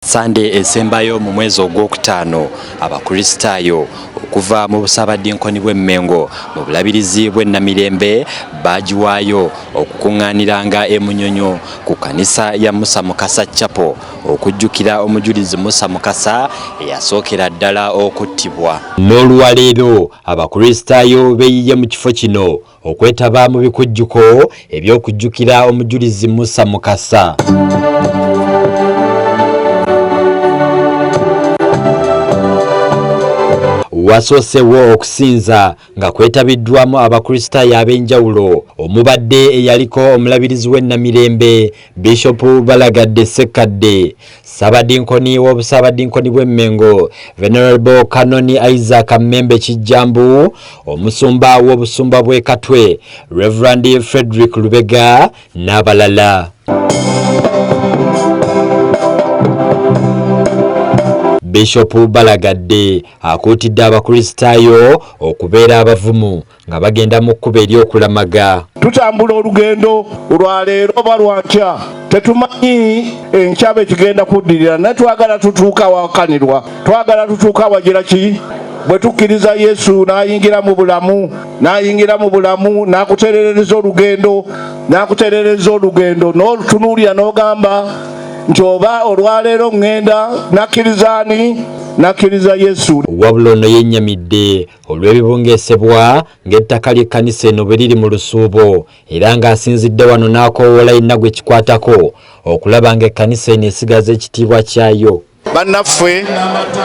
Sande esembayo mu mwezi ogwokutaano abakristaayo okuva mu busaabadinkoni bw'e Mmengo mu bulabirizi bw'e Namirembe baagiwaayo okukuŋŋaaniranga e Munyonyo ku kkanisa ya Musa Mukasa Capo okujjukira omujulizi Musa Mukasa eyasookera ddala okuttibwa. N'olwaleero abakristaayo beeyiye mu kifo kino okwetaba mu bikujjuko eby'okujjukira omujulizi Musa Mukasa. wasoosewo okusinza nga kwetabiddwamu abakristaayo ab'enjawulo omubadde eyaliko omulabirizi w'e Namirembe Bishop Balagadde Ssekkadde, Ssabadinkoni w'Obusabadinkoni bw'e Mengo, Venerable Kanoni Isaac Mmembe Kijjambu, Omusumba w'Obusumba bw'e Katwe, Reverend Frederick Lubega n'abalala. Bishop Balagadde akuutidde Abakristaayo okubeera abavumu nga bagenda mu kkubo ery'okulamaga. Tutambula olugendo lwa leero oba lwa nkya, tetumanyi enkya be kigenda kuddirira, naye twagala tutuuka awakanirwa, twagala tutuuka awagira ki bwe tukkiriza yesu n'ayingira mu bulamu n'ayingira mu bulamu n'akuterereza olugendo n'akuterereza olugendo n'olutunuulira n'ogamba nti oba olwaleero ŋŋenda nakkiriza ani nakkiriza yesu wabula ono yennyamidde olw'ebibungesebwa ng'ettaka ly'ekkanisa eno bwe liri mu lusuubo era ng'asinzidde wano n'akoowoola yenna gwe kikwatako okulaba ng'ekkanisa eno esigaza ekitiibwa kyayo bannaffe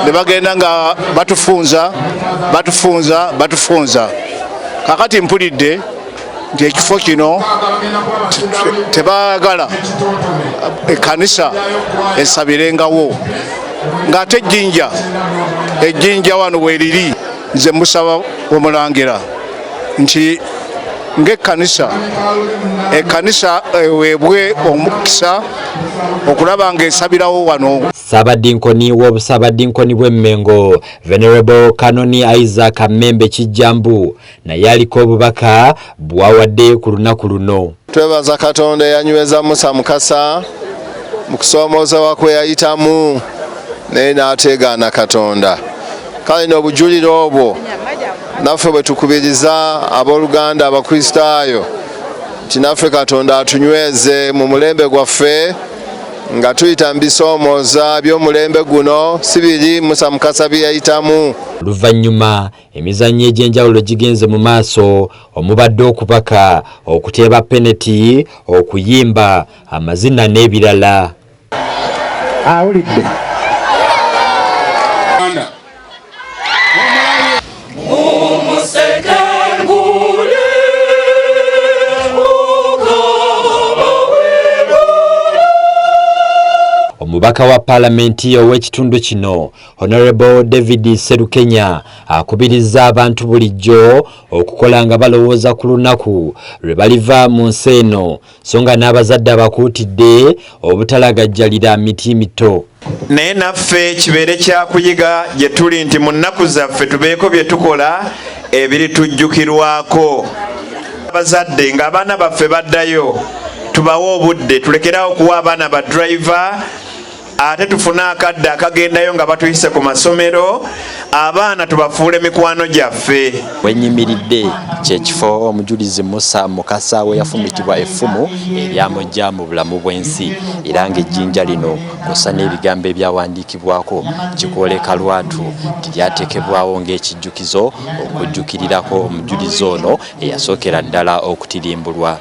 ne bagenda nga batufunza batufunza batufunza kakati mpulidde nti ekifo kino tebagala ekanisa esabirengawo ng'ate ejjinja ejjinja wano weriri nze musaba omulangira nti ng'ekkanisa ekkanisa eweebwe eh, omukisa okulaba ng'esabirawo wano ssaabadinkoni w'obusaabadinkoni bw'emmengo venerable kanoni isaac mmembe kijjambu naye aliko obubaka bwawadde ku lunaku luno. Twebaza Katonda eyanyweza Musa Mukasa mu kusoomoozewa kwe yayitamu naye n'ateegaana Katonda. Kale n'obujulire obwo naffe bwe tukubiriza abooluganda Abakristaayo nti naffe Katonda atunyweze mu mulembe gwaffe nga tuyita mu bisoomooza by'omulembe guno si biri Musa Mukasa bye yayitamu. Oluvannyuma Emizannyo egy'enjawulo gigenze mu maaso omubadde okubaka, okuteeba peneti, okuyimba, amazina n'ebirala. Awulidde. Omubaka wa Palamenti ow'ekitundu kino Honorable David Serukenya akubirizza abantu bulijjo okukola nga balowooza ku lunaku lwe baliva mu nsi eno so nga n'abazadde abakuutidde obutalagajjalira miti mito naye naffe kibeere kyakuyiga gye tuli nti mu nnaku zaffe tubeeko bye tukola ebiritujjukirwako abazadde ng'abaana baffe baddayo tubawe obudde tulekeraawo okuwa abaana ba driver ate tufune akadde akagendayo nga batuyise ku masomero abaana tubafuule mikwano gyaffe wenyimiridde kyekifo omujulizi musa mukasa we yafumitibwa effumu eryamujja mu bulamu bw'ensi era ng'ejjinja lino kusa n'ebigambo ebyawandiikibwako kikwoleka lwatu nti lyateekebwawo ng'ekijjukizo okujjukirirako omujulizi ono eyasookera ddala okutirimbulwa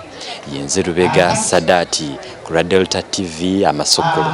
yenze lubega sadaati ku lwa delta tv amasukulu